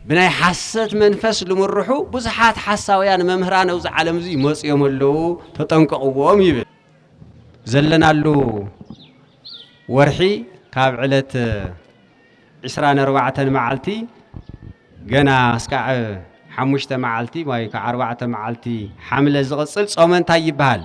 ብናይ ሓሰት መንፈስ ልምርሑ ብዙሓት ሓሳውያን መምህራን ኣብዚ ዓለም እዚ ይመጹ እዮም ኣለዉ ተጠንቀቕዎም ይብል ዘለናሉ ወርሒ ካብ ዕለት ዕስራን ኣርባዕተን መዓልቲ ገና እስካዕ ሓሙሽተ መዓልቲ ወይ ከዓ ኣርባዕተ መዓልቲ ሓምለ ዝቕፅል ጾመ እንታይ ይበሃል?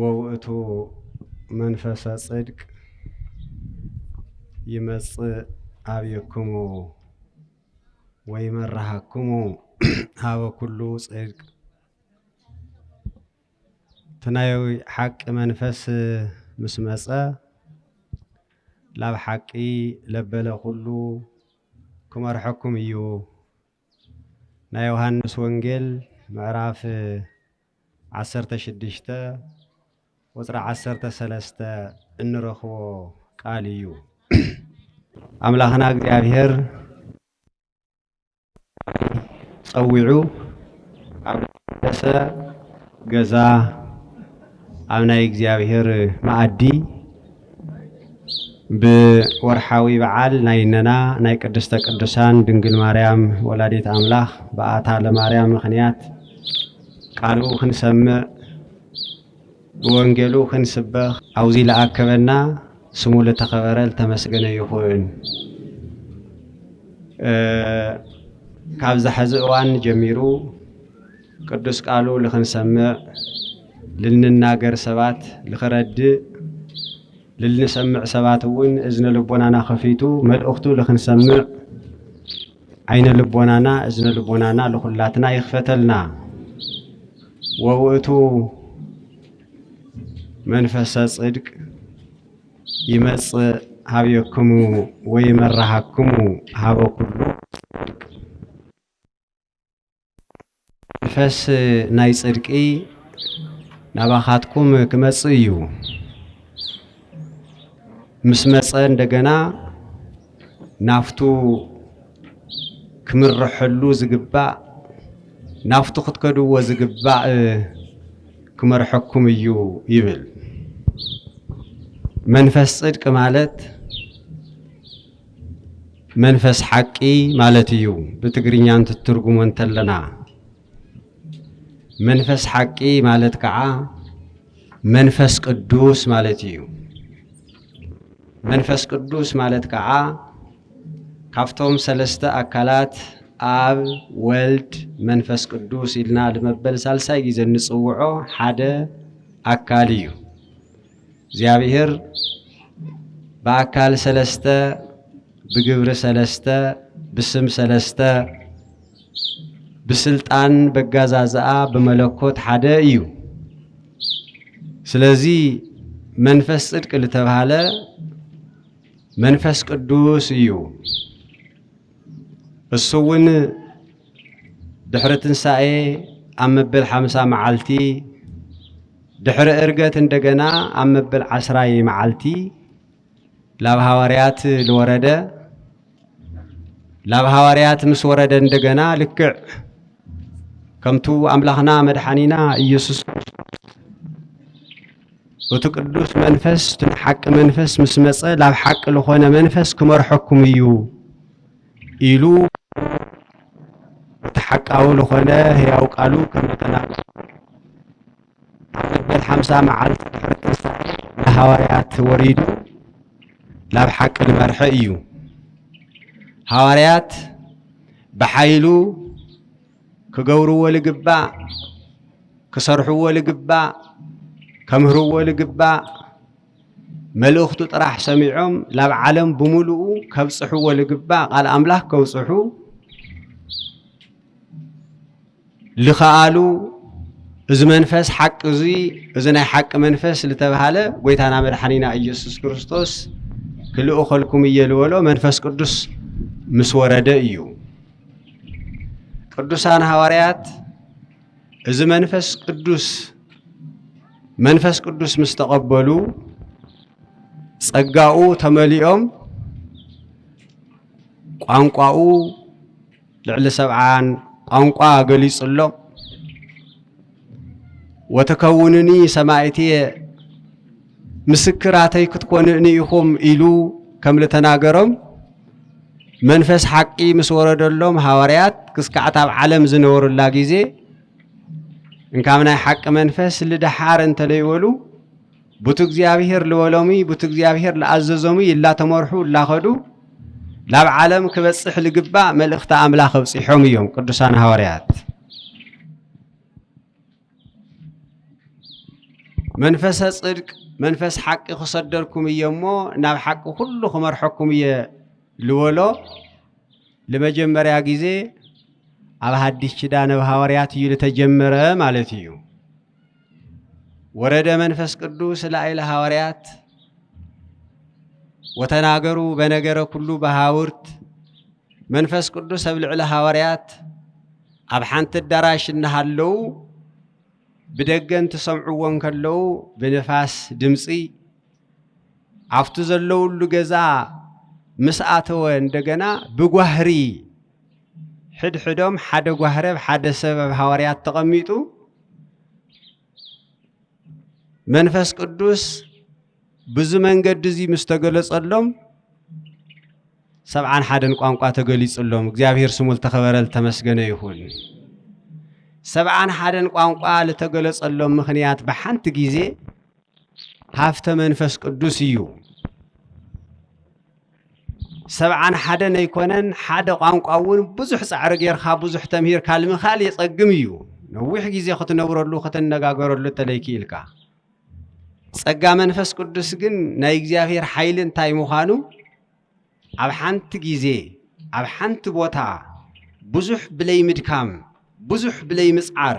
ወውእቱ መንፈሰ ጽድቅ ይመጽእ ኣብየክሙ ወይመርሃክሙ ሀበ ኩሉ ጽድቅ እቲ ናይ ሓቂ መንፈስ ምስ መጸ ላብ ሓቂ ለበለ ኩሉ ክመርሐኩም እዩ ናይ ዮሃንስ ወንጌል ምዕራፍ ዓሰርተ ሽዱሽተ ቁፅሪ ዓሰርተ ሰለስተ እንረኽቦ ቃል እዩ። ኣምላኽና እግዚኣብሔር ጸዊዑ ኣብ ደሰ ገዛ ኣብ ናይ እግዚኣብሔር መኣዲ ብወርሓዊ በዓል ናይ እነና ናይ ቅድስተ ቅዱሳን ድንግል ማርያም ወላዲት ኣምላኽ በኣታ ለማርያም ምኽንያት ቃሉ ክንሰምዕ ብወንጌሉ ክንስበኽ ኣብዚ ለኣከበና ስሙ ለተኸበረ ልተመስገነ ይኹን። ካብዛ ሕዚ እዋን ጀሚሩ ቅዱስ ቃሉ ልኽንሰምዕ ልንናገር ሰባት ልኽረድእ ልልንሰምዕ ሰባት እውን እዝነ ልቦናና ከፊቱ መልእኽቱ ልኽንሰምዕ ዓይነ ልቦናና እዝነ ልቦናና ልኹላትና ይኽፈተልና ወውእቱ መንፈሰ ጽድቅ ይመጽእ ሀብየክሙ ወይመራሃክሙ ሀበ ኩሉ መንፈስ ናይ ጽድቂ ናባኻትኩም ክመጽእ እዩ ምስ መጸ እንደገና ናፍቱ ክምርሐሉ ዝግባእ ናፍቱ ክትከድዎ ዝግባእ ክመርሐኩም እዩ ይብል። መንፈስ ጽድቂ ማለት መንፈስ ሓቂ ማለት እዩ ብትግርኛ እንትትርጉሞ እንተለና መንፈስ ሓቂ ማለት ከዓ መንፈስ ቅዱስ ማለት እዩ። መንፈስ ቅዱስ ማለት ከዓ ካብቶም ሰለስተ ኣካላት ኣብ ወልድ መንፈስ ቅዱስ ኢልና ልመበል ሳልሳይ ግዜ እንፅውዖ ሓደ ኣካል እዩ። እግዚኣብሔር ብኣካል ሰለስተ፣ ብግብሪ ሰለስተ፣ ብስም ሰለስተ፣ ብስልጣን በጋዛዝኣ ብመለኮት ሓደ እዩ። ስለዚ መንፈስ ጽድቅ ዝተባህለ መንፈስ ቅዱስ እዩ። እሱ እውን ድሕሪ ትንሣኤ ኣብ መበል ሓምሳ መዓልቲ ድሕሪ እርገት እንደገና ኣብ መበል ዓስራይ መዓልቲ ላብ ሃዋርያት ልወረደ ላብ ሃዋርያት ምስ ወረደ እንደገና ልክዕ ከምቱ ኣምላኽና መድሓኒና ኢየሱስ እቲ ቅዱስ መንፈስ እቲ ሓቂ መንፈስ ምስ መፀ ላብ ሓቂ ልኾነ መንፈስ ክመርሐኩም እዩ ኢሉ እቲ ሓቃዊ ዝኾነ ህያው ቃሉ ከመጠናቕቕ ኣብ መበል ሓምሳ መዓልቲ ድሕሪ ትንሳኤ ንሃዋርያት ወሪዱ ናብ ሓቂ ንመርሐ እዩ። ሃዋርያት ብሓይሉ ክገብርዎ ልግባእ፣ ክሰርሕዎ ልግባእ፣ ከምህርዎ ልግባእ መልእኽቱ ጥራሕ ሰሚዖም ላብ ዓለም ብምሉኡ ከብጽሕዎ ልግባእ ቃል ኣምላኽ ከብጽሑ ልኸኣሉ እዚ መንፈስ ሓቂ እዚ እዚ ናይ ሓቂ መንፈስ ዝተባሃለ ጎይታና መድሓኒና ኢየሱስ ክርስቶስ ክልእኸልኩም እየ ልበሎ መንፈስ ቅዱስ ምስ ወረደ እዩ። ቅዱሳን ሃዋርያት እዚ መንፈስ ቅዱስ መንፈስ ቅዱስ ምስ ተቐበሉ ጸጋኡ ተመሊኦም ቋንቋኡ ልዕሊ ሰብዓን ቋንቋ ገሊጹሎም ወተከውንኒ ሰማይትየ ምስክራተይ ክትኮንእኒ ኢኹም ኢሉ ከም ልተናገሮም መንፈስ ሓቂ ምስ ወረደሎም ሃዋርያት ክስካዕት ኣብ ዓለም ዝነበሩላ ጊዜ እንካብ ናይ ሓቂ መንፈስ ልደሓር እንተለይበሉ ቡቲ እግዚኣብሔር ልበሎሙ ቡቲ እግዚኣብሔር ልኣዘዞሙ ይላተመርሑ እላኸዱ ላብ ዓለም ክበፅሕ ልግባእ መልእኽቲ ኣምላኽ ኣብፂሖም እዮም ቅዱሳን ሃዋርያት መንፈሰ ፅድቅ መንፈስ ሓቂ ክሰደልኩም እየ እሞ ናብ ሓቂ ኩሉ ክመርሐኩም እየ ልበሎ ልመጀመርያ ጊዜ ኣብ ሃዲስ ኪዳን ኣብ ሃዋርያት እዩ ልተጀመረ ማለት እዩ። ወረደ መንፈስ ቅዱስ ላዕለ ሃዋርያት ወተናገሩ በነገረ ኩሉ በሃውርት መንፈስ ቅዱስ ኣብ ልዕሊ ሃዋርያት ኣብ ሓንቲ ኣዳራሽ እናሃለዉ ብደገ እንትሰምዕዎ እንከለዉ ብንፋስ ድምፂ ኣብቲ ዘለውሉ ገዛ ምስ ኣተወ እንደገና ብጓህሪ ሕድሕዶም ሓደ ጓህሪ ኣብ ሓደ ሰብ ኣብ ሃዋርያት ተቐሚጡ መንፈስ ቅዱስ ብዙ መንገዲ እዚ ምስ ተገለጸሎም ሰብዓን ሓደን ቋንቋ ተገሊጹሎም እግዚኣብሔር ስሙ ዝተኸበረ ዝተመስገነ ይኹን። ሰብዓን ሓደን ቋንቋ ዝተገለጸሎም ምኽንያት ብሓንቲ ጊዜ ሃፍተ መንፈስ ቅዱስ እዩ። ሰብዓን ሓደን ኣይኮነን ሓደ ቋንቋ እውን ብዙሕ ፃዕሪ ጌርካ ብዙሕ ተምሂርካ ንምኽኣል የፀግም እዩ ነዊሕ ግዜ ክትነብረሉ ክትነጋገረሉ እተለይ ክኢልካ ጸጋ መንፈስ ቅዱስ ግን ናይ እግዚኣብሔር ሓይሊ እንታይ ምዃኑ ኣብ ሓንቲ ግዜ ኣብ ሓንቲ ቦታ ብዙሕ ብለይ ምድካም ብዙሕ ብለይ ምጽዓር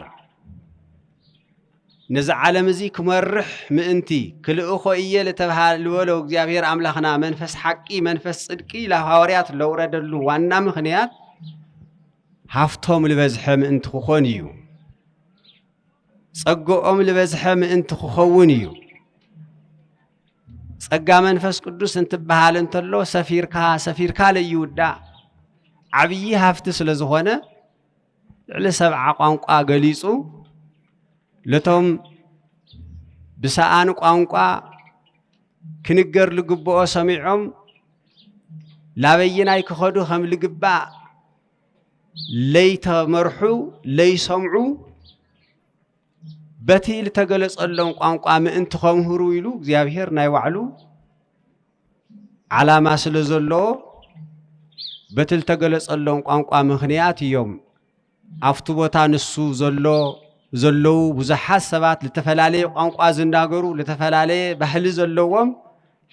ነዚ ዓለም እዚ ክመርሕ ምእንቲ ክልእኾ እየ ልበሎ እግዚኣብሔር ኣምላኽና መንፈስ ሓቂ መንፈስ ጽድቂ ለሃዋርያት ለውረደሉ ዋና ምኽንያት ሃፍቶም ልበዝሐ ምእንቲ ክኾን እዩ ጸግኦም ልበዝሐ ምእንቲ ክኸውን እዩ ጸጋ መንፈስ ቅዱስ እንትበሃል እንተሎ ሰፊርካ ሰፊርካ ለይውዳእ ዓብዪ ሃፍቲ ስለ ዝኾነ ልዕሊ ሰብዓ ቋንቋ ገሊጹ ለቶም ብሰኣን ቋንቋ ክንገር ልግብኦ ሰሚዖም ላበይናይ ክኸዱ ከም ልግባእ ለይተመርሑ ለይሰምዑ በቲ ዝተገለጸሎም ቋንቋ ምእንቲ ከምህሩ ኢሉ እግዚኣብሔር ናይ ባዕሉ ዓላማ ስለ ዘለዎ በቲ ዝተገለጸሎም ቋንቋ ምኽንያት እዮም ኣብቲ ቦታ ንሱ ዘሎ ዘለዉ ብዙሓት ሰባት ዝተፈላለየ ቋንቋ ዝናገሩ ዝተፈላለየ ባህሊ ዘለዎም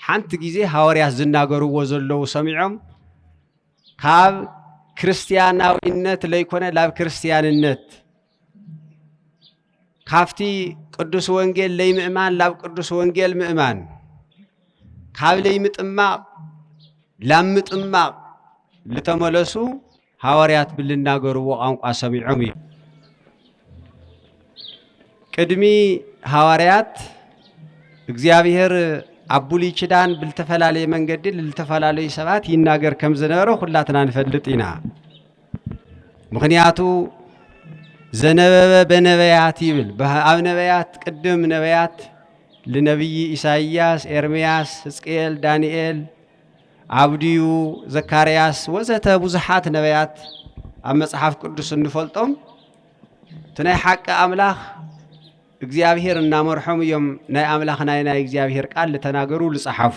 ሓንቲ ግዜ ሃዋርያት ዝናገርዎ ዘለዉ ሰሚዖም ካብ ክርስትያናዊነት ለይኮነ ናብ ክርስትያንነት ካብቲ ቅዱስ ወንጌል ለይምእማን ላብ ቅዱስ ወንጌል ምእማን ካብ ለይምጥማቕ ላብ ምጥማቕ ዝተመለሱ ሃዋርያት ብልናገርዎ ቋንቋ ሰሚዖም እዩ ቅድሚ ሃዋርያት እግዚኣብሔር ኣብ ብሉይ ኪዳን ብልተፈላለየ መንገዲ ልተፈላለዩ ሰባት ይናገር ከም ዝነበረ ኩላትና ንፈልጥ ኢና ምክንያቱ ዘነበበ በነበያት ይብል ኣብ ነበያት ቅድም ነበያት ልነብይ ኢሳይያስ ኤርምያስ ህዝቅኤል ዳንኤል ኣብድዩ ዘካርያስ ወዘተ ብዙሓት ነበያት ኣብ መጽሓፍ ቅዱስ እንፈልጦም እቲ ናይ ሓቂ ኣምላኽ እግዚኣብሄር እናመርሖም እዮም ናይ ኣምላኽ ናይ ናይ እግዚኣብሄር ቃል ዝተናገሩ ዝጸሓፉ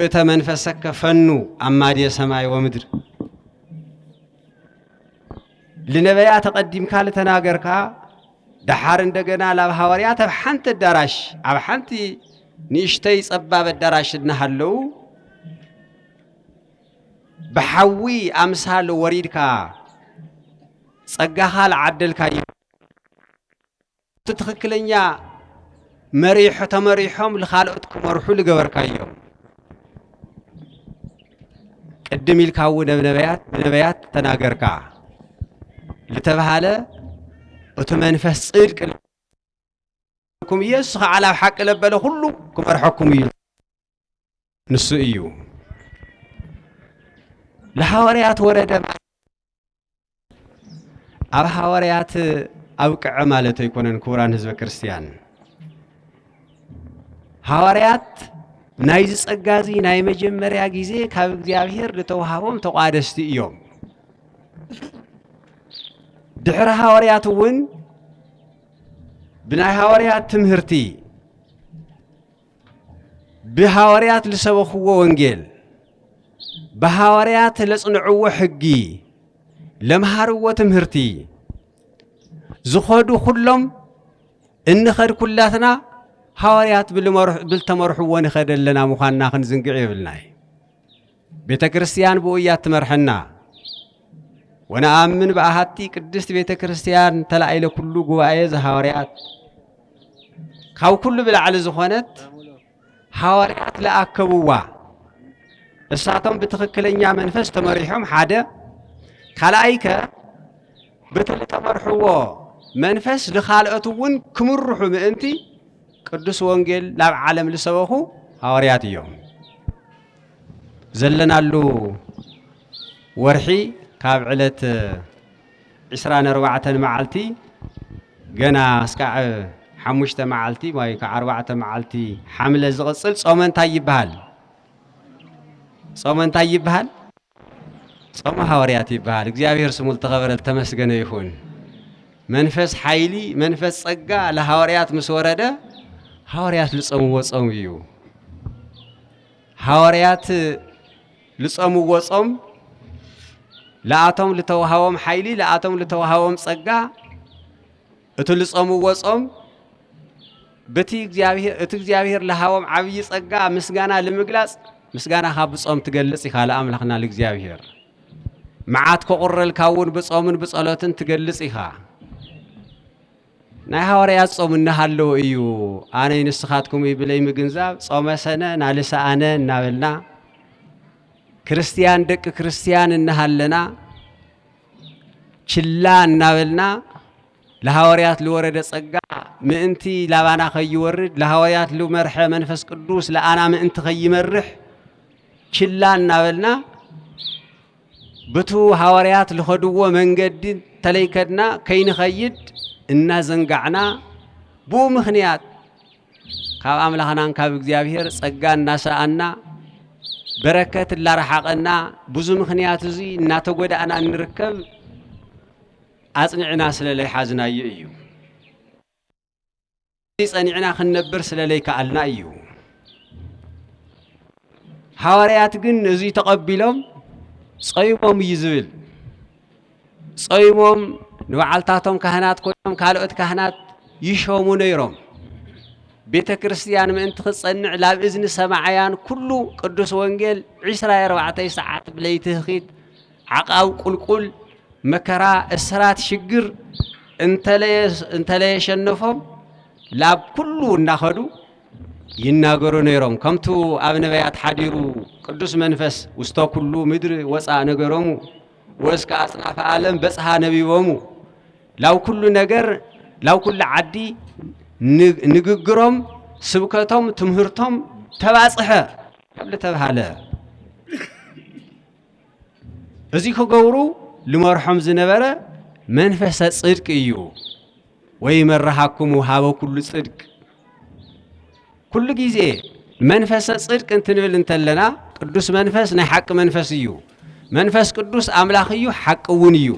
ርእተ መንፈሰከ ፈኑ ኣማድየ ሰማይ ወምድር ልነበያ ተቐዲምካ ልተናገርካ ደሓር እንደገና ላብ ሃዋርያት ኣብ ሓንቲ ኣዳራሽ ኣብ ሓንቲ ንእሽተይ ጸባብ ኣዳራሽ እናሃለዉ ብሓዊ ኣምሳል ወሪድካ ጸጋኻ ልዓደልካ እዩ እቲ ትኽክለኛ መሪሖ ተመሪሖም ልኻልኦት ክመርሑ ልገበርካዮም ቅድም ኢልካ እውን ብ ነብያት ብነብያት ተናገርካ ልተብሃለ እቲ መንፈስ ጽድቂ ኩም ኢየሱስ ኸዓ ላብ ሓቂ ለበለ ኹሉ ክመርሐኩም እዩ ንሱ እዩ ንሃዋርያት ወረደ ኣብ ሃዋርያት ኣብቅዐ ማለት ኣይኮነን ክቡራን ህዝበ ክርስቲያን ሃዋርያት ናይ ዝጸጋ እዚ ናይ መጀመርያ ግዜ ካብ እግዚኣብሔር ዝተዋሃቦም ተቋደስቲ እዮም ድሕሪ ሃዋርያት እውን ብናይ ሃዋርያት ትምህርቲ ብሃዋርያት ልሰበኽዎ ወንጌል ብሃዋርያት ለጽንዕዎ ሕጊ ለምሃርዎ ትምህርቲ ዝኸዱ ኩሎም እንኸድ ኩላትና ሃዋርያት ብልተመርሕዎ ንኸደ ኣለና ምዃንና ክንዝንግዕ የብልና እዩ ቤተ ክርስቲያን ብኡ እያ እትመርሐና። ወነኣምን ብኣሃቲ ቅድስት ቤተ ክርስቲያን ተላኢለ ኩሉ ጉባኤ ዘሃዋርያት ካብ ኩሉ ብላዕሊ ዝኾነት ሃዋርያት ለኣከብዋ እሳቶም ብትኽክለኛ መንፈስ ተመሪሖም ሓደ ካልኣይ ከ በቲ ዝተመርሕዎ መንፈስ ንኻልኦት እውን ክምርሑ ምእንቲ ቅዱስ ወንጌል ናብ ዓለም ዝሰበኹ ሃዋርያት እዮም። ዘለናሉ ወርሒ ካብ ዕለት ዕስራን ኣርባዕተን መዓልቲ ገና እስካዕ ሓሙሽተ መዓልቲ ወይ ከዓ ኣርባዕተ መዓልቲ ሓምለ ዝቕፅል ጾመ እንታይ ይበሃል? ጾመ እንታይ ይበሃል? ጾመ ሓወርያት ይበሃል። እግዚኣብሔር ስሙ ዝተኸበረ ዝተመስገነ ይኹን። መንፈስ ሓይሊ መንፈስ ጸጋ ለሃዋርያት ምስ ወረደ ሃዋርያት ልጸምዎ ጾም እዩ። ሃዋርያት ልጸምዎ ጾም ለኣቶም ልተዋሃቦም ሓይሊ ለኣቶም ልተዋሃቦም ጸጋ እቲ ልጾምዎ ጾም በቲ እግዚኣብሔር እቲ እግዚኣብሔር ለሃቦም ዓብይ ጸጋ ምስጋና ልምግላጽ ምስጋናኻ ብጾም ትገልጽ ኢኻ ለኣምላኽና ልእግዚኣብሔር መዓት ከቑረልካ እውን ብጾምን ብጸሎትን ትገልጽ ኢኻ ናይ ሃዋርያት ጾም እናሃለወ እዩ ኣነ ንስኻትኩም ብለይ ምግንዛብ ጾመ ሰነ ናልሰ ኣነ እናበልና ክርስትያን ደቂ ክርስትያን እናሃለና ችላ እናበልና ለሃዋርያት ልወረደ ጸጋ ምእንቲ ላባና ከይወርድ ለሃዋርያት ልመርሐ መንፈስ ቅዱስ ለኣና ምእንቲ ከይመርሕ ችላ እናበልና ብቱ ሃዋርያት ልኸድዎ መንገዲ ተለይከድና ከይንኸይድ እናዘንጋዕና ብኡ ምኽንያት ካብ ኣምላኽናን ካብ እግዚኣብሔር ጸጋ እናሰኣና በረከት እላረሓቐና ብዙ ምኽንያት እዚ እናተጎዳእና እንርከብ ኣጽኒዕና ስለ ለይሓዝናዮ እዩ ጸኒዕና ክንነብር ስለ ለይከኣልና እዩ ሃዋርያት ግን እዙይ ተቐቢሎም ጸይቦም እዩ ዝብል ጾይሞም ንበዓልታቶም ካህናት ኮይኖም ካልኦት ካህናት ይሾሙ ነይሮም። ቤተ ክርስቲያን ምእንቲ ክትጸንዕ ላብ እዝኒ ሰማዕያን ኩሉ ቅዱስ ወንጌል ዒስራ ኣርባዕተ ሰዓት ብለይቲ ህኺት ዓቃብ ቁልቁል መከራ እስራት ሽግር እንተለየሸነፎም ላብ ኩሉ እናኸዱ ይናገሩ ነይሮም ከምቱ ኣብ ነቢያት ሓዲሩ ቅዱስ መንፈስ ውስተ ኩሉ ምድሪ ወፃ ነገሮሙ ወእስከ ኣጽናፈ ዓለም በጽሃ ነቢቦሙ ላብ ኩሉ ነገር ላብ ኩሉ ዓዲ ንግግሮም ስብከቶም ትምህርቶም ተባጽሐ ካብ ዝተብሃለ እዚ ክገብሩ ልመርሖም ዝነበረ መንፈሰ ጽድቅ እዩ ወይ መረሃኩም ሃበ ኩሉ ጽድቅ ኩሉ ግዜ መንፈሰ ጽድቅ እንትንብል እንተለና ቅዱስ መንፈስ ናይ ሓቂ መንፈስ እዩ። መንፈስ ቅዱስ ኣምላኽ እዩ፣ ሓቂ እውን እዩ።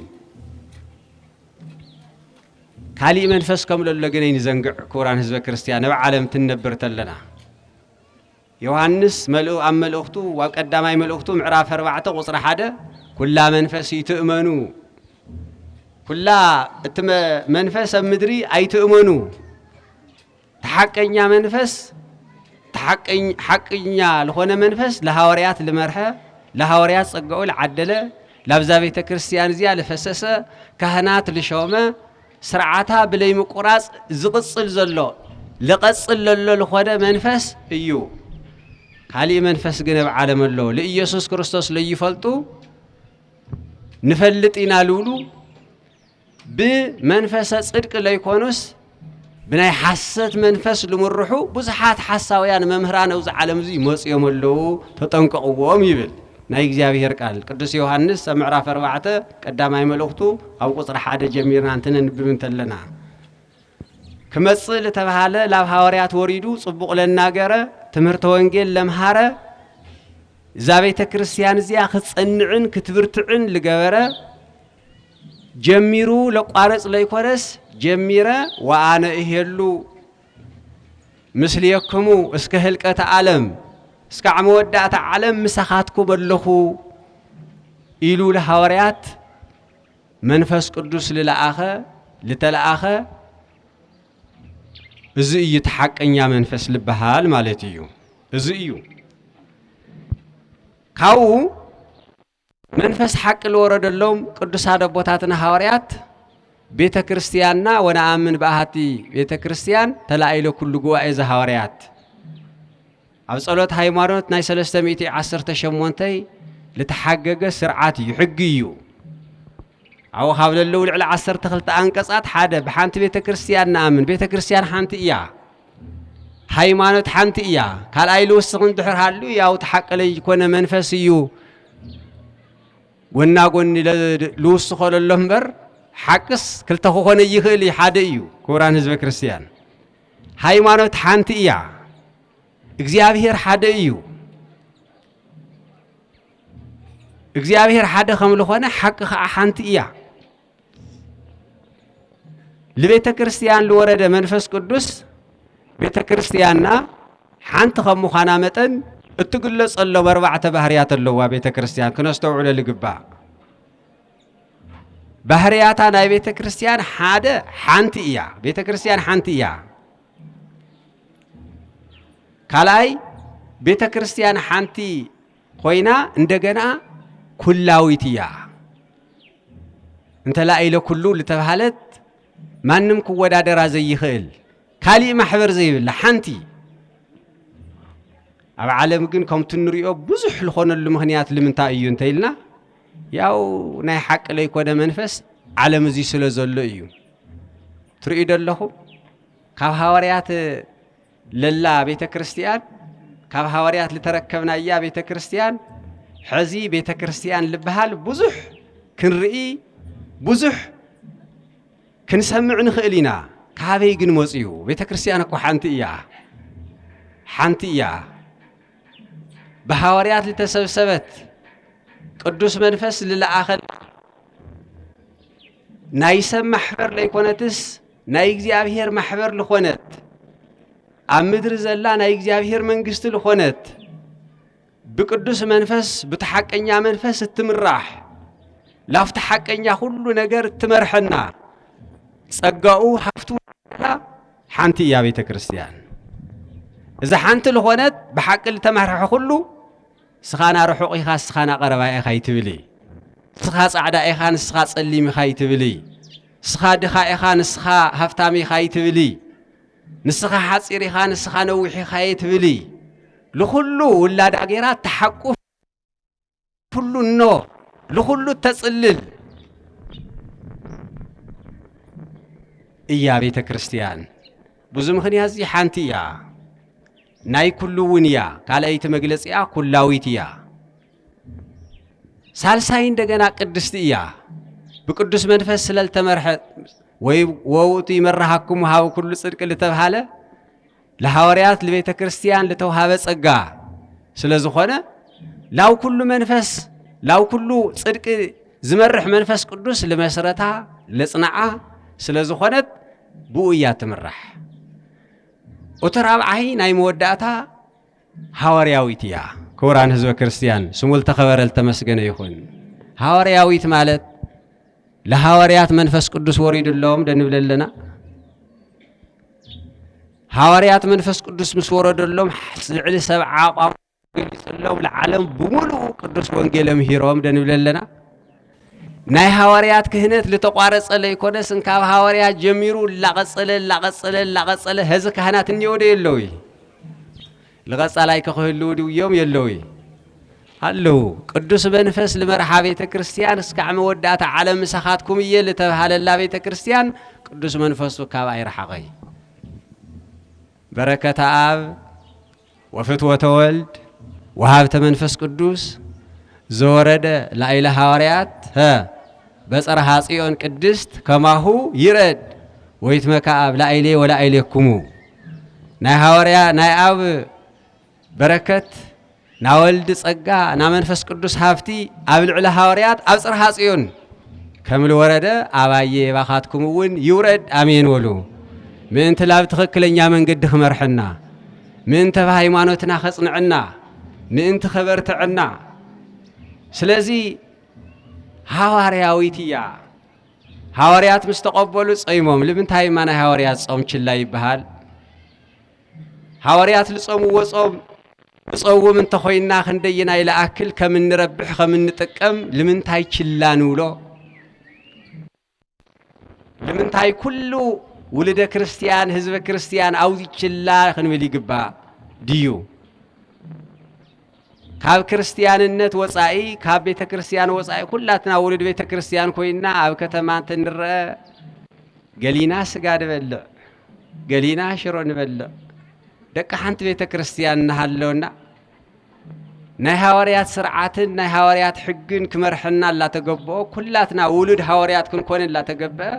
ካሊእ መንፈስ ከም ለሎ ግን ኣይንዘንግዕ ክቡራን ህዝበ ክርስትያን ነብ ዓለም ትነብር ተለና ዮሃንስ መልኡ ኣብ መልእኽቱ ኣብ ቀዳማይ መልእኽቱ ምዕራፍ ኣርባዕተ ቁፅሪ ሓደ ኩላ መንፈስ ይትእመኑ ኩላ እቲ መንፈስ ኣብ ምድሪ ኣይትእመኑ ተሓቀኛ መንፈስ ሓቅኛ ልኾነ መንፈስ ለሃዋርያት ልመርሐ ለሃዋርያት ጸጋኡ ልዓደለ ላብዛ ቤተ ክርስቲያን እዚኣ ልፈሰሰ ካህናት ልሾመ ስርዓታ ብለይ ምቁራጽ ዝቕጽል ዘሎ ልቐጽል ለሎ ልኾነ መንፈስ እዩ። ካሊእ መንፈስ ግን ኣብ ዓለም ኣሎ ልኢየሱስ ክርስቶስ ለይፈልጡ ንፈልጥ ኢና ልብሉ ብመንፈሰ ጽድቂ ለይኮኑስ ብናይ ሓሰት መንፈስ ልምርሑ ብዙሓት ሓሳውያን መምህራን ኣብዚ ዓለም እዚ ይመጽኦም ኣለዉ ተጠንቀቕዎም ይብል ናይ እግዚኣብሔር ቃል ቅዱስ ዮሐንስ ኣብ ምዕራፍ ኣርባዕተ ቀዳማይ መልእኽቱ ኣብ ቁፅሪ ሓደ ጀሚርና እንትነንብብ እንተለና ክመጽእ ዝተባሃለ ላብ ሃዋርያት ወሪዱ ጽቡቕ ለናገረ ትምህርተ ወንጌል ለምሃረ እዛ ቤተ ክርስቲያን እዚኣ ክትጸንዕን ክትብርትዕን ልገበረ ጀሚሩ ለቋርጽ ለይኮነስ ጀሚረ ወኣነ እሄሉ ምስሌክሙ እስከ ህልቀተ ዓለም እስካዕ መወዳእታ ዓለም ምሳኻትኩም ኣለኹ ኢሉ ለሃዋርያት መንፈስ ቅዱስ ልለኣኸ ልተለኣኸ እዚ እዩ እቲ ሓቀኛ መንፈስ ልበሃል ማለት እዩ እዚ እዩ ካብኡ መንፈስ ሓቂ ልወረደሎም ቅዱሳት ኣቦታትና ሃዋርያት ቤተ ክርስቲያንና ወነኣምን ብኣሃቲ ቤተ ክርስቲያን ተላኢለ ኩሉ ጉባኤ ዘሃዋርያት ኣብ ጸሎት ሃይማኖት ናይ 318 ልተሓገገ ስርዓት እዩ ሕጊ እዩ ኣብኡ ካብ ለለዉ ልዕሊ 12 ኣንቀጻት ሓደ ብሓንቲ ቤተ ክርስቲያን ንኣምን ቤተ ክርስቲያን ሓንቲ እያ ሃይማኖት ሓንቲ እያ ካልኣይ ልውስኽ እንድሕር ሃሉ ያው ተሓቂ ለይኮነ መንፈስ እዩ ጎና ጎኒ ልውስኾ ለሎ እምበር ሓቅስ ክልተ ክኾነ ይኽእል እዩ ሓደ እዩ ክቡራን ህዝበ ክርስቲያን ሃይማኖት ሓንቲ እያ እግዚኣብሔር ሓደ እዩ እግዚኣብሔር ሓደ ከም ዝኾነ ሓቂ ከዓ ሓንቲ እያ ልቤተ ክርስቲያን ልወረደ መንፈስ ቅዱስ ቤተ ክርስቲያንና ሓንቲ ከም ምዃና መጠን እትግለጸሎም ኣርባዕተ ባህርያት ኣለዋ ቤተ ክርስቲያን ክነስተውዕሎ ልግባእ ባህርያታ ናይ ቤተ ክርስቲያን ሓደ ሓንቲ እያ ቤተ ክርስቲያን ሓንቲ እያ ካልኣይ ቤተ ክርስቲያን ሓንቲ ኮይና እንደገና ኩላዊት እያ። እንተላኢለ ኩሉ ዝተባሃለት ማንም ክወዳደራ ዘይኽእል ካሊእ ማሕበር ዘይብላ ሓንቲ ኣብ ዓለም ግን ከምቲ ንሪኦ ብዙሕ ዝኾነሉ ምክንያት ልምንታይ እዩ እንተኢልና ያው ናይ ሓቂ ለይኮነ መንፈስ ዓለም እዚ ስለ ዘሎ እዩ ትርእዩ ደለኹም ካብ ሃዋርያት ለላ ቤተ ክርስቲያን ካብ ሃዋርያት ዝተረከብናያ ቤተ ክርስቲያን ሕዚ ቤተ ክርስቲያን ልበሃል ብዙሕ ክንርኢ ብዙሕ ክንሰምዕ ንኽእል ኢና። ካበይ ግን መፅዩ? ቤተ ክርስቲያን እኮ ሓንቲ እያ ሓንቲ እያ ብሃዋርያት ዝተሰብሰበት ቅዱስ መንፈስ ዝለኣኸል ናይ ሰብ ማሕበር ለይኮነትስ ናይ እግዚኣብሔር ማሕበር ልኾነት ኣብ ምድሪ ዘላ ናይ እግዚኣብሔር መንግስቲ ልኾነት ብቅዱስ መንፈስ ብተሓቀኛ መንፈስ እትምራሕ ላፍቲ ሓቀኛ ኩሉ ነገር እትመርሐና ጸጋኡ ሃፍቱ ሓንቲ እያ ቤተ ክርስቲያን እዛ ሓንቲ ልኾነት ብሓቂ ልተመርሐ ኩሉ ስኻና ርሑቕ ኢኻ ስኻና ቀረባ ኢኻ ኣይትብሊ ስኻ ጻዕዳ ኢኻ ንስኻ ጸሊም ኢኻ ኣይትብሊ ስኻ ድኻ ኢኻ ንስኻ ሃፍታም ኢኻ ኣይትብሊ ንስኻ ሓጺር ኢኻ ንስኻ ነዊሕ ኢኻ የትብሊ ልኹሉ ውላዳ ጌራ ተሓቁፍ ኩሉ እኖ ልኹሉ ተጽልል እያ ቤተ ክርስቲያን። ብዙ ምኽንያት እዚ ሓንቲ እያ። ናይ ኩሉ እውን እያ። ካልኣይቲ መግለፂኣ ኩላዊት እያ። ሳልሳይ እንደገና ቅድስቲ እያ። ብቅዱስ መንፈስ ስለልተመርሐ ወይ ወውቱ ይመራሃኩም ሃብ ኩሉ ጽድቅ ልተብሃለ ለሐዋርያት ለቤተ ክርስቲያን ልተውሃበ ጸጋ ስለ ዝኾነ ላው ኩሉ መንፈስ ላው ኩሉ ጽድቂ ዝመርሕ መንፈስ ቅዱስ ልመስረታ ለጽናዓ ስለ ዝኾነት ብኡ እያ ትምራሕ። እቲ ራብዓይ ናይ መወዳእታ ሃዋርያዊት እያ። ክቡራን ህዝበ ክርስቲያን ስሙ ልተኸበረ ልተመስገነ ይኹን። ሃዋርያዊት ማለት ለሃዋርያት መንፈስ ቅዱስ ወሪድሎም ደንብል ኣለና ሃዋርያት መንፈስ ቅዱስ ምስ ወረደሎም ልዕሊ ሰብዓ ቋንቋ ተገሊጸሎም ንዓለም ብምሉኡ ቅዱስ ወንጌል ኣምሂሮም ደንብለ ኣለና ናይ ሃዋርያት ክህነት ዝተቋረጸ ለይኮነስ እንካብ ሃዋርያት ጀሚሩ ላቐጸለ ላቐጸለ ላቐጸለ ህዚ ካህናት እኒወደ የለዉ ልቐጻላይ ከክህልው ድውዮም የለዉ ኣለዉ ቅዱስ መንፈስ ልመርሓ ቤተ ክርስቲያን እስካዕ መወዳእታ ዓለም ምሳኻትኩም እየ ልተብሃለላ ቤተ ክርስቲያን ቅዱስ መንፈሱ ካብ ኣይረሓቐይ በረከተ ኣብ ወፍትወተ ወልድ ወሃብተ መንፈስ ቅዱስ ዘወረደ ላይለ ሃዋርያት ሀ በጸርሃ ጽዮን ቅድስት ከማሁ ይረድ ወይትመካ ኣብ ላይሌ ወላይሌኩሙ ናይ ሃዋርያ ናይ ኣብ በረከት ናወልድ ጸጋ ናመንፈስ ቅዱስ ሃብቲ ኣብ ልዕሊ ሃዋርያት ኣብ ጽርሃ ጽዮን ከምልወረደ ኣባዬ የባኻትኩም እውን ይውረድ ኣሜን ወሉ ምእንቲ ላብ ትኽክለኛ መንገዲ ክመርሐና ምእንተ ሃይማኖትና ከጽንዕና ምእንቲ ከበርትዐና ስለዚ ሃዋርያዊት እያ ሃዋርያት ምስ ተቐበሉ ጸይሞም ልምንታይ እማ ናይ ሃዋርያት ጾም ችላ ይበሃል ሃዋርያት ልጾምዎ ጾም እጸውም እንተኾይና ክንደየናይ ልኣክል ከም እንረብሕ ከም እንጥቀም ልምንታይ ችላ ንብሎ? ልምንታይ ኩሉ ውልደ ክርስቲያን ህዝበ ክርስቲያን ኣውዚ ችላ ክንብል ይግባ ድዩ? ካብ ክርስትያንነት ወጻኢ ካብ ቤተ ክርስትያን ወጻኢ ኩላትና ውሉድ ቤተ ክርስትያን ኮይና ኣብ ከተማ እንትንረአ ገሊና ስጋ ንበልዕ፣ ገሊና ሽሮ ንበልዕ፣ ደቂ ሓንቲ ቤተ ክርስትያን እናሃለውና ናይ ሃዋርያት ስርዓትን ናይ ሃዋርያት ሕግን ክመርሐና እላተገብኦ ኩላትና ውሉድ ሃዋርያት ክንኮን እላተገብአ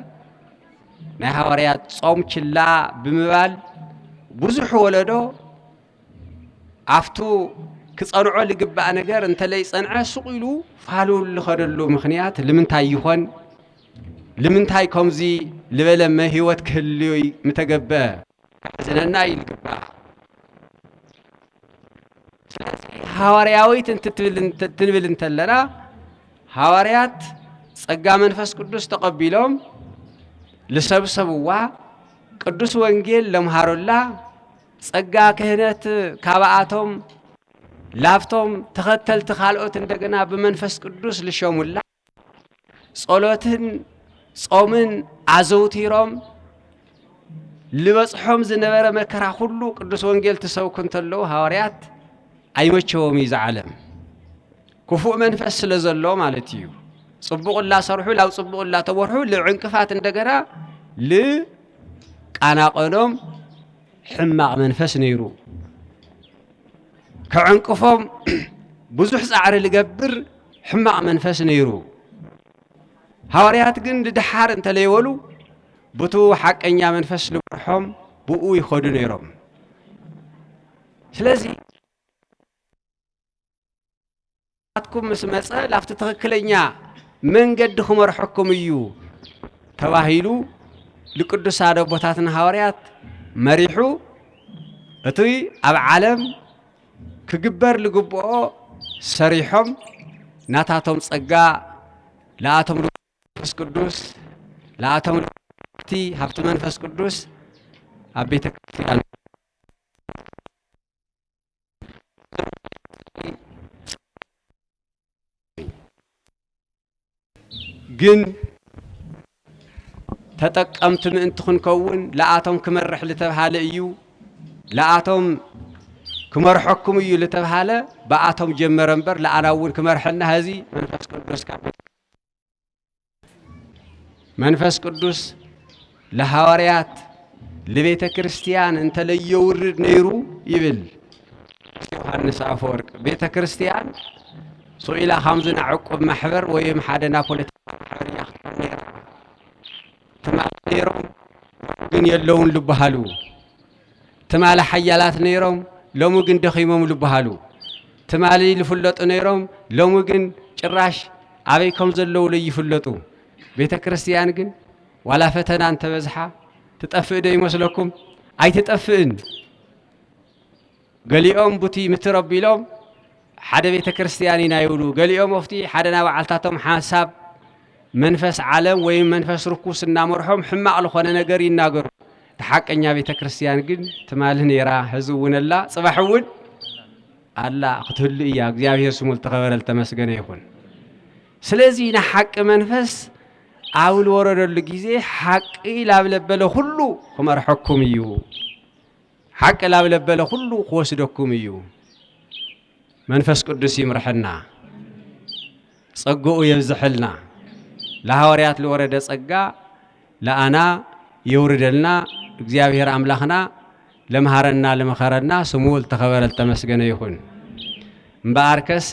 ናይ ሃዋርያት ጾም ችላ ብምባል ብዙሕ ወለዶ ኣፍቱ ክጸንዖ ልግባእ ነገር እንተለይ ጸንዐ ሱቕ ኢሉ ፋሉ ልኸደሉ ምኽንያት ልምንታይ ይኾን ልምንታይ ከምዚ ልበለ መህይወት ክህልይ ምተገበ ሕዝነና እዩ ልግባእ ሃዋርያዊት እንትንብል እንተለና ሃዋርያት ጸጋ መንፈስ ቅዱስ ተቐቢሎም ልሰብሰብዋ ቅዱስ ወንጌል ለምሃሩላ ጸጋ ክህነት ካባኣቶም ላብቶም ተኸተልቲ ካልኦት እንደገና ብመንፈስ ቅዱስ ልሸሙላ ጸሎትን ጾምን ኣዘውቲሮም ልበጽሖም ዝነበረ መከራ ኩሉ ቅዱስ ወንጌል ትሰብኩ እንተለዉ ሃዋርያት ኣይመቸዎም እዩ ዝዓለም ክፉእ መንፈስ ስለ ዘሎ ማለት እዩ። ጽቡቕ እላሰርሑ ላብ ጽቡቕ እላተወርሑ ልዕንቅፋት እንደገና ል ቃና ቀሎም ሕማቕ መንፈስ ነይሩ ከዕንቅፎም ብዙሕ ጻዕሪ ልገብር ሕማቕ መንፈስ ነይሩ ሃዋርያት ግን ድድሓር እንተለይበሉ ብቱ ሓቀኛ መንፈስ ልመርሖም ብኡ ይኸዱ ነይሮም ስለዚ ናትኩም ምስ መፀ ላብቲ ትኽክለኛ መንገዲ ክመርሐኩም እዩ ተባሂሉ ልቅዱስ ኣደ ቦታትና ሃዋርያት መሪሑ እቲ ኣብ ዓለም ክግበር ልግብኦ ሰሪሖም ናታቶም ጸጋ ለኣቶም መንፈስ ቅዱስ ለኣቶም ልቲ ሃብቲ መንፈስ ቅዱስ ኣብ ቤተ ክርስቲያን ግን ተጠቀምቲ ምእንቲ ክንከውን ለኣቶም ክመርሕ ዝተብሃለ እዩ ለኣቶም ክመርሐኩም እዩ ዝተብሃለ ብኣቶም ጀመረ እምበር ለኣና እውን ክመርሐና ህዚ መንፈስ ቅዱስ ካብ መንፈስ ቅዱስ ለሃዋርያት ልቤተ ክርስቲያን እንተለየውርድ ነይሩ ይብል ዮሃንስ አፈወርቅ ቤተ ክርስቲያን ሶኢላ ካብዚ ናይ ዕቁብ ማሕበር ወይም ሓደ ናይ ፖለቲካ ማሕበር እያ ክትኮን ነይራ ትማል ነይሮም ሎሚ ግን የለውን ዝበሃሉ፣ ትማል ሓያላት ነይሮም ሎሚ ግን ደኺሞም ዝበሃሉ፣ ትማሊ ዝፍለጡ ነይሮም ሎሚ ግን ጭራሽ ኣበይ ከም ዘለዉ ለይፍለጡ። ቤተ ክርስቲያን ግን ዋላ ፈተና እንተበዝሓ ትጠፍእ ዶ ይመስለኩም? ኣይትጠፍእን። ገሊኦም ቡቲ ምትር ኣቢሎም ሓደ ቤተ ክርስቲያን ኢና ይብሉ፣ ገሊኦም ኣብቲ ሓደ ናይ ባዓልታቶም ሓሳብ መንፈስ ዓለም ወይም መንፈስ ርኩስ እናመርሖም ሕማቕ ልኾነ ነገር ይናገሩ። እቲ ሓቀኛ ቤተ ክርስቲያን ግን ትማሊ ነይራ፣ ህዚ እውን ኣላ፣ ጽባሕ እውን ኣላ ክትህሉ እያ። እግዚኣብሔር ስሙ ልተኸበረ ልተመስገነ ይኹን። ስለዚህ ንሓቂ መንፈስ ኣብ ልወረደሉ ግዜ ሓቂ ላብ ለበለ ኩሉ ክመርሐኩም እዩ። ሓቂ ላብ ለበለ ኩሉ ክወስደኩም እዩ መንፈስ ቅዱስ ይምርሐና ጸግኡ የብዝሐልና ለሃዋርያት ለወረደ ጸጋ ለኣና የውርደልና እግዚኣብሔር ኣምላኽና ለምሃረና ለመኸረና ስሙ ልተኸበረ ልተመስገነ ይኹን እምበኣርከስ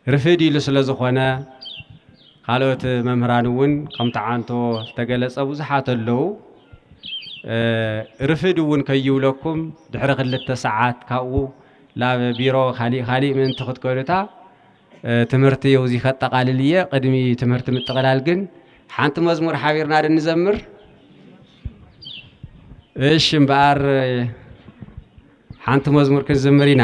ርፍድ ኢሉ ስለ ዝኾነ ካልኦት መምህራን እውን ከም ተዓንቶ ዝተገለጸ ብዙሓት ኣለዉ ርፍድ እውን ከይብለኩም ድሕሪ ክልተ ሰዓት ካብኡ ናብ ቢሮ ካሊእ ካሊእ ምእንቲ ክትከዱታ ትምህርቲ የው እዚ ከጠቃልል እየ ቅድሚ ትምህርቲ ምጥቕላል ግን ሓንቲ መዝሙር ሓቢርና ዶ ንዘምር እሺ እምበኣር ሓንቲ መዝሙር ክንዝምር ኢና